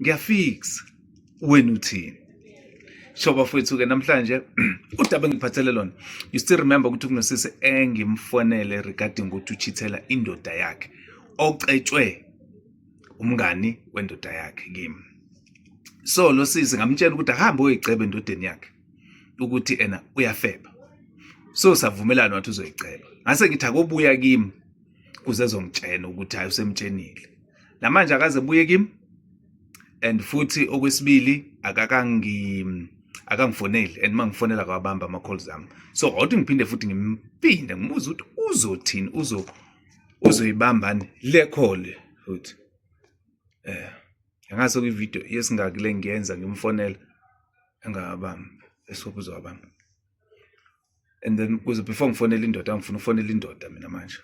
ngiyafixa wena uthini so bafowethu-ke namhlanje udaba engiphathele lona you still remember ukuthi kunosisi engimfonele regarding ukuthi uchithela indoda yakhe ocetshwe umngani wendoda yakhe kimi so lo sisi ngamtshela ukuthi ahambe oyoyiceba endodeni yakhe ukuthi ena uyafeba so savumelana wathi uzoyiceba ngase ngithi akobuya kimi kuze ezongitshena ukuthi hayi usemtshenile namanje akaze buye kimi and futhi okwesibili akakangi akangifoneli and mangifonela kwabamba ama calls ami so awuthi ngiphinde futhi ngimpinde ngibuza ukuthi uzothini uzo uzoyibambani le call futhi eh ngase kwi video yesingaki le ngiyenza ngimfonela engabamba esokuzo abamba and then kuze before ngifonele indoda ngifuna ufonele indoda mina manje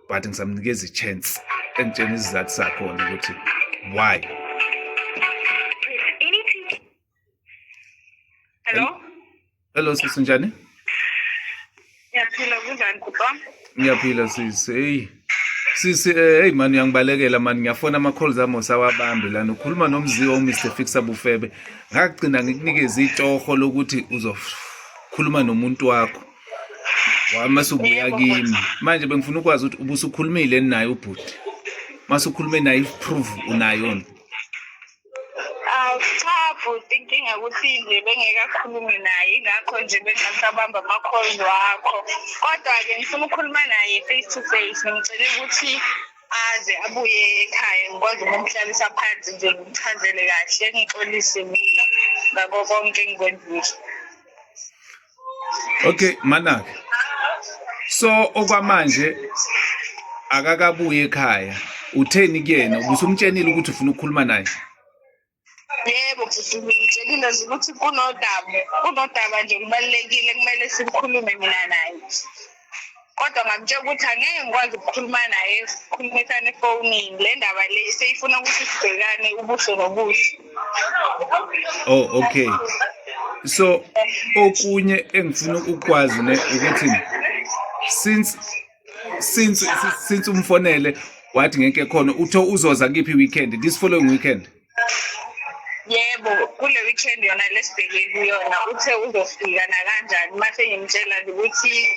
but ngisamnikeza i-chance engitshena isizathu sakhona ukuthi why hello hello sisi njani ngiyaphila kunjani bhuti wami ngiyaphila sisi eyi Sisi eh hey man uyangibalekela man ngiyafona ama calls ami osawabambi lana ukhuluma nomziwa u Mr Fixer Bufebe ngagcina ngikunikeza itoho lokuthi uzokhuluma nomuntu wakho wama subuya kimi manje bengifuna ukwazi ukuthi ubusukhulumile naye ubhuti masukhulume naye proof unayo Awu cha bhuti inkinga ukuthi nje bengekakhulumi naye ngakho nje bengasabamba ama-calls wakho kodwa-ke ngifuna ukukhuluma naye face to face ngimcele ukuthi aze abuye ekhaya ngikwazi ukumhlalisa phansi nje ngimchazele kahle ngixolise mina ngako konke engikwenzile okay manaka so okwamanje akakabuye ekhaya utheni kuyena ubusumtshenile ukuthi ufuna ukukhuluma naye yebo bhuti ngimtshelile nje ukuthi kunodaba kunodaba nje kubalulekile kumele sikhulume mina naye kodwa ngamtshela ukuthi angeke ngikwazi ukukhuluma naye sikhulumisane efonini le ndaba le seyifuna ukuthi sibhekane ubuso nobuso oh okay so okunye engifuna ukwazi ne ukuthi since since since umfonele wathi ngeke khona uthe uzoza kiphi weekend this following weekend yebo kule weekend yona lesibheke kuyona uthe uzofika nakanjani uma sengimtshela nje ukuthi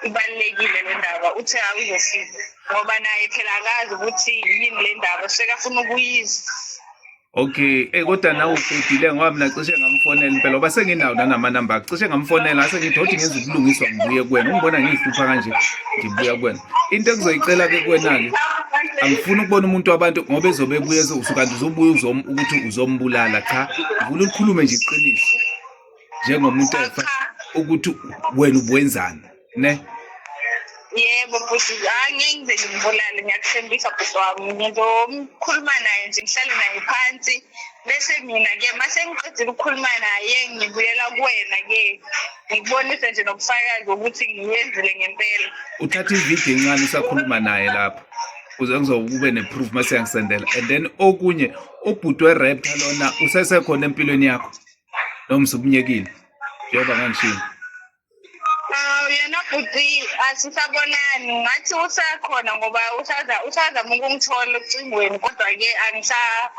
ibalulekile le ndaba uthe awuzofika ngoba naye phela akazi ukuthi yini le ndaba sekafuna ukuyizwa okay eh kodwa nawe uqedile ngoba mina cishe ngamfonela impela oba senginawo nanamanamba cishe ngamfonela ase ngidodi ngenza ubulungiswa ngibuye kuwena ungibona ngiyihlupha kanje ngibuya kuwena into engizoyicela ke kuwena-ke angifuni ukubona umuntu wabantu ngoba ezobe ebuye kanti uzobuya ukuthi uzombulala cha ngifuna ulikhulume nje iqiniso njengomuntu efa ukuthi wena ubuwenzani ne yebo bhuti angeke ngize ngimbulale ngiyakuthembisa bhuti wami ngizokhuluma naye nje ngihlale naye phansi bese mina-ke uma sengiqedile ukukhuluma naye ngibuyela kuwena-ke ngikubonise nje nobufakazi ukuthi ngiyenzile ngempela uthatha ividiyo encane usakhuluma naye lapho kuze ngizokube ne-proof uma siyangisendela and then okunye ubhuti werepta lona usesekhona empilweni yakho noma usubunyekile njengoba ngangishini futhi asisabonani ngathi usakhona ngoba usazama ukungithola ocingweni kodwa-ke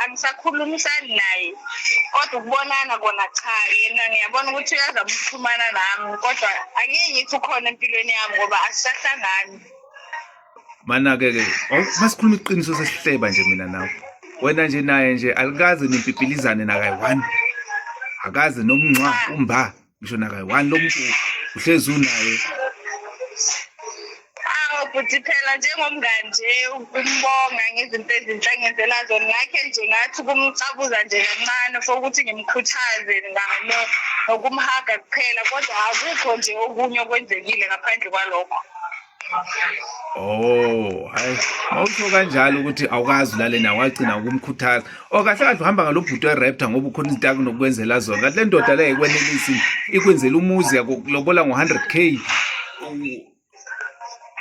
angisakhulumisani naye kodwa ukubonana kona cha yena ngiyabona ukuthi uyazama ukuxhumana nami kodwa angeke ngithi ukhona empilweni yami ngoba asisahlangani manake-ke masikhuluma iqiniso sesihleba nje mina nawe wena nje naye nje alikaze nimpipilizane nakayi-one akaze nomnxa umba ngisho nakayi one lo muntu uhlezi unaye futhi phela njengomngani nje ukumbonga ngezinto ezinhle angenzela zona ngakhe nje ngathi ukumcabuza nje kancane for ukuthi ngimkhuthaze ngalo nokumhaga kuphela kodwa akukho nje okunye okwenzekile ngaphandle kwalokho Oh, hayi. Awusho kanjalo ukuthi awukazi ulale nawe wagcina ukumkhuthaza. Oh, kahle kahle uhamba ngalobhuti weRaptor ngoba ukhona izinto akunokwenzela zona. Kanti le ndoda le ekwenelisi ikwenzela umuzi yakulobola ngo-100k.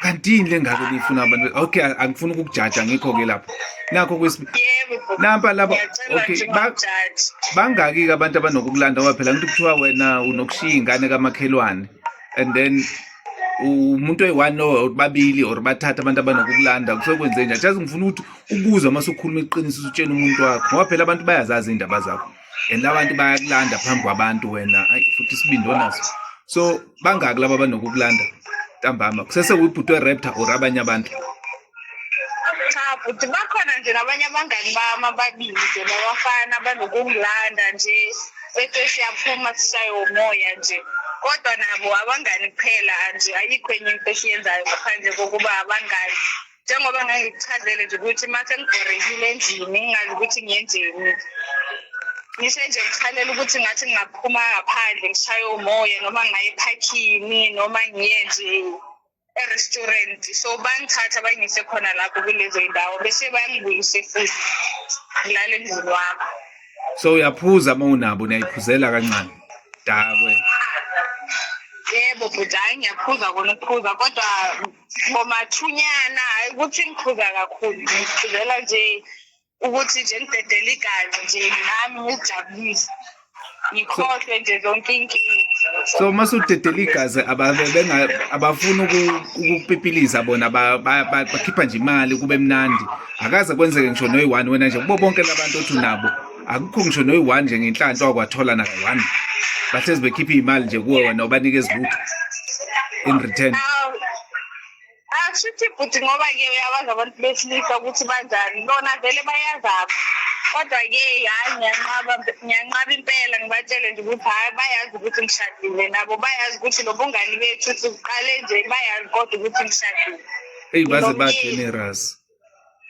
Kanti yini lengako lifuna abantu? Okay, angifuni ukukujaja ngikho ke lapho. Nakho kwesbi. Nampa laba okay, bangaki ke abantu abanokukulanda waphela ngithi kuthiwa wena unokushiya ingane kamakhelwane and then umuntu oyi-one or babili or bathatha abantu abanokukulanda kusuke kwenze njani just ngifuna ukuthi ukuza uma sukhuluma iqiniso usutshela umuntu wakho ngoba phela abantu bayazazi iy'ndaba zakho and abantu bayakulanda phambi kwabantu wena ayi futhi isibindi onaso so bangaki laba abanokukulanda ntambama kusese uyibhuti weraptor or abanye abantu cha bhuti bakhona nje nabanye abangani bami ababili nje babafana banokungilanda nje bethe siyaphuma sishaye umoya nje kodwa nabo abangani kuphela nje ayikho enye into esiyenzayo ngaphandle kokuba abangani njengoba ngangikuchazele nje ukuthi uma sengibhorekile endlini ngingazi ukuthi ngiyenzeni ngisho nje ngikhalela ukuthi ngathi ngingaphuma ngaphandle ngishaye umoya noma ngaye ephakhini noma ngiye nje e-restaurant so bangithatha bangise khona lapho kulezo ndawo bese bangibuyise futhi ngilale emzini wami so uyaphuza uma unabo niyayiphuzela kancane dakwe yebo bhuti hhayi ngiyaphuza kona ukuphuza kodwa ngomathunyana hhayi ukuthi ngiphuza kakhulu ngiphuzela nje ukuthi nje ngidedele iganga nje nami ngijabulise ngikhohlwe nje zonke inkinga so uma sudedela igazi abafuni ukukupipiliza bona bakhipha nje imali kube mnandi akaze kwenzeke ngisho noyi-one wena nje kubo bonke labantu othi unabo akukho ngisho noyi-one nje ngenhlanhla wakwathola naka-one bahlezi bekhipha iy'mali nje kuwe wena ubanikeza lutho in return Ashuthi bhuti ngoba ke uyabazi abantu besilisa ukuthi banjani bona vele bayazaba kodwa ke hayi ngiyanqaba ngiyanqaba impela ngibatshele nje ukuthi hayi bayazi ukuthi ngishadile nabo bayazi ukuthi lo bungani bethu ukuthi kuqale nje bayazi kodwa ukuthi ngishadile eyi baze ba-generous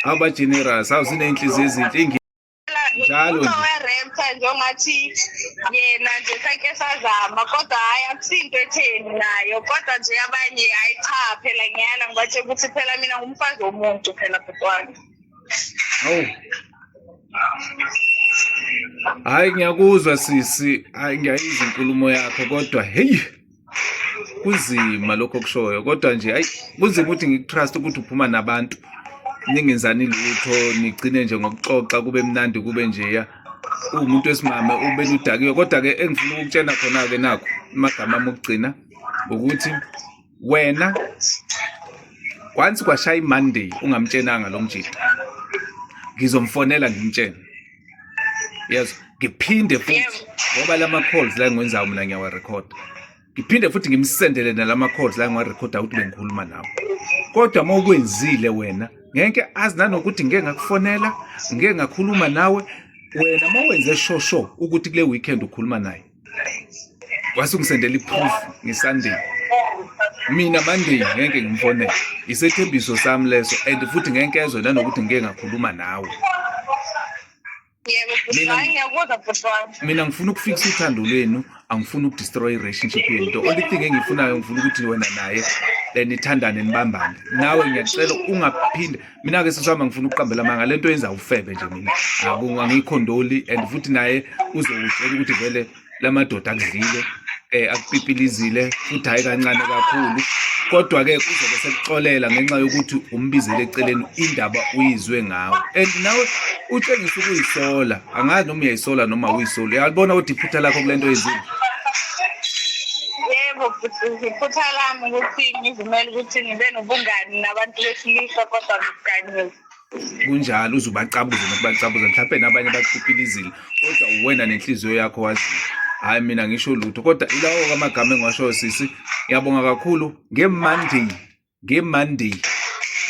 awu ba-generous awu ziney'nhliziyo ezinhle njalo nje. uzoweremtha njengathi yena nje sake sazama kodwa hhayi akusinto etheni nayo kodwa nje abanye hhayi cha phela ngiyala ngibatshela ukuthi phela mina ngumfazi womuntu phela bhutwana Awu. Hayi ngiyakuzwa sisi, hayi ngiyayizwa inkulumo yakho kodwa hey kunzima lokho okushoyo kodwa nje ayi kunzima ukuthi ngikutrust ukuthi uphuma nabantu ningenzani lutho nigcine nje ngokuxoxa kube mnandi kube njeya uwumuntu wesimame ubeludakiwe kodwa-ke engifuna ukukutshena khona-ke nakho amagama ami okugcina ukuthi wena once kwashaya imonday ungamtshenanga lo mjita ngizomfonela ngimtshene yes ngiphinde futhi ngoba lama calls la ngiwenzayo mina ngiyawa record ngiphinde futhi ngimsendele nalama calls la ngiwa record ukuthi bengikhuluma nawe kodwa uma ukwenzile wena ngeke azi nanokuthi ngeke ngakufonela ngeke ngakhuluma nawe wena uma wenze shosho ukuthi kule weekend ukhuluma naye wase ungisendela iproof ngesunday mina monday ngeke ngimfonele isethembiso sami leso and futhi ngeke ezwe nanokuthi ngike ngakhuluma nawe mina ngifuna ukufikisa uthando lwenu angifuni ukudestroy i-relationship yenu the only thing engiyifunayo ngifuna ukuthi wena naye nithandane nibambane nawe ngiyacela ungaphinde mina ke sisama ngifuna ukuqambela amanga lento yenza ufebe nje mina angiyikhondoli and futhi naye uzokutshela ukuthi vele lamadoda akudlile eh akupipilizile futhi hayi kancane kakhulu kodwa ke kuzobe sekuxolela ngenxa yokuthi umbizele eceleni indaba uyizwe ngawe and nawe utshengisa ukuyisola angazi noma uyayisola noma uyisoli uyalibona kodwa iphutha lakho kule nto yezini yebo iphutha lami ukuthi ngizimele ukuthi ngibe nobungani nabantu besilisa kodwa ngikuganiwe kunjalo uze ubacabuze nokubacabuza mhlawumpe nabanye bakupilizile kodwa uwena nenhliziyo yakho waziyo hhayi mina ngisho lutho kodwa ilawo kamagama engiwashoyo sisi ngiyabonga kakhulu ngemonday ngemonday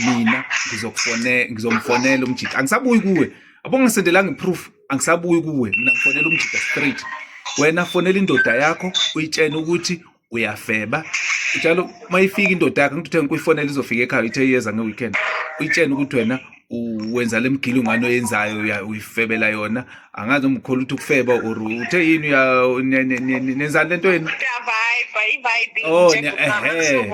mina ngizokufone ngizomfonela umjita angisabuyi kuwe abo ngisendelanga iproof angisabuyi kuwe mina ngifonela umjita straight wena fonela indoda yakho uyitshene ukuthi uyafeba njalo uma ifika indoda yakho ngithi uthe ngikuyifonela izofika ekhaya ithe iyeza nge-weekend uyitshene ukuthi wena wenza le mgilo ngane oyenzayo uyifebela yona angazi umkhola ukuthi ukufeba or uthe yini nenzani le nto yenu oh ehe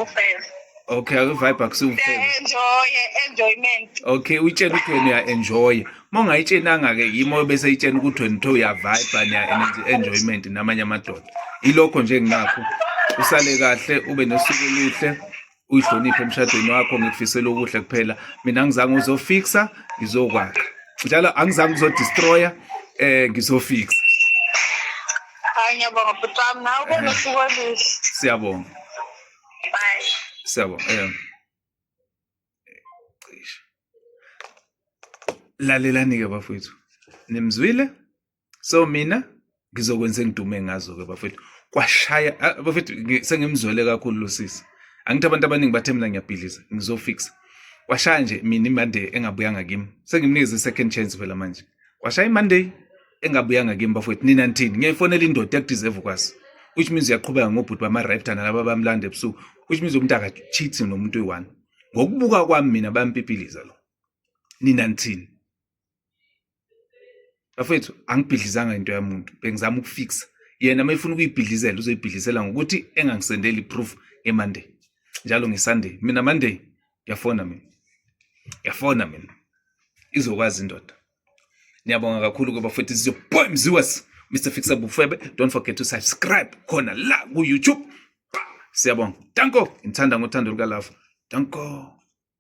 okay akuvibe akusiwufebaenjoyenjoyment okay uyitshela ukuthi wena uya-enjoya uma ungayitshenanga-ke yimo bese yitshena ukuthi wena uthe uyavibe niya-enjoyment namanye amadoda ilokho nje nginakho usale kahle ube nosuku oluhle uyihloniphe emshadweni wakho ngikufisela okuhle kuphela mina ngizange uzofixa ngizokwakha njalo angizange ukuzodestroya eh ngizofixa ngiyabonga bhuti wami nawe ube nosuku oluhle siyabonga bye siyabonga um lalelani-ke bafowethu nimzwile so mina ngizokwenza engidume ngazo ke bafethu kwashaya ah, bafethu sengimzwele kakhulu lo sisi angithi abantu abaningi bathe mina ngiyabhidliza ngizofixa kwashaya nje mina imonday engabuyanga kimi sengimnikeze second chance phela manje kwashaya imonday engabuyanga kimi bafowethu nina nithini ngiyayifonela indoda yakudeserve ukwazi which means uyaqhubeka ngobhuti bama-raptor nalaba bamlanda ebusuku which means umuntu akacheathi nomuntu oyi-one ngokubuka kwami mina bayampipiliza lo nina nithini bafethu angibhidlizanga into yamuntu bengizama ukufixa yena uma efuna ukuyibhidlizela uzoyibhidlisela ngokuthi engangisendeli iproof ngemonday njalo ngesunday mina monday ngiyafona mina ngiyafona mina izokwazi indoda niyabonga kakhulu kuba futhi sizoboy mziwas mr fixer bufebe don't forget to subscribe khona la ku-youtube siyabonga danko ngithanda ngothando lukalava danko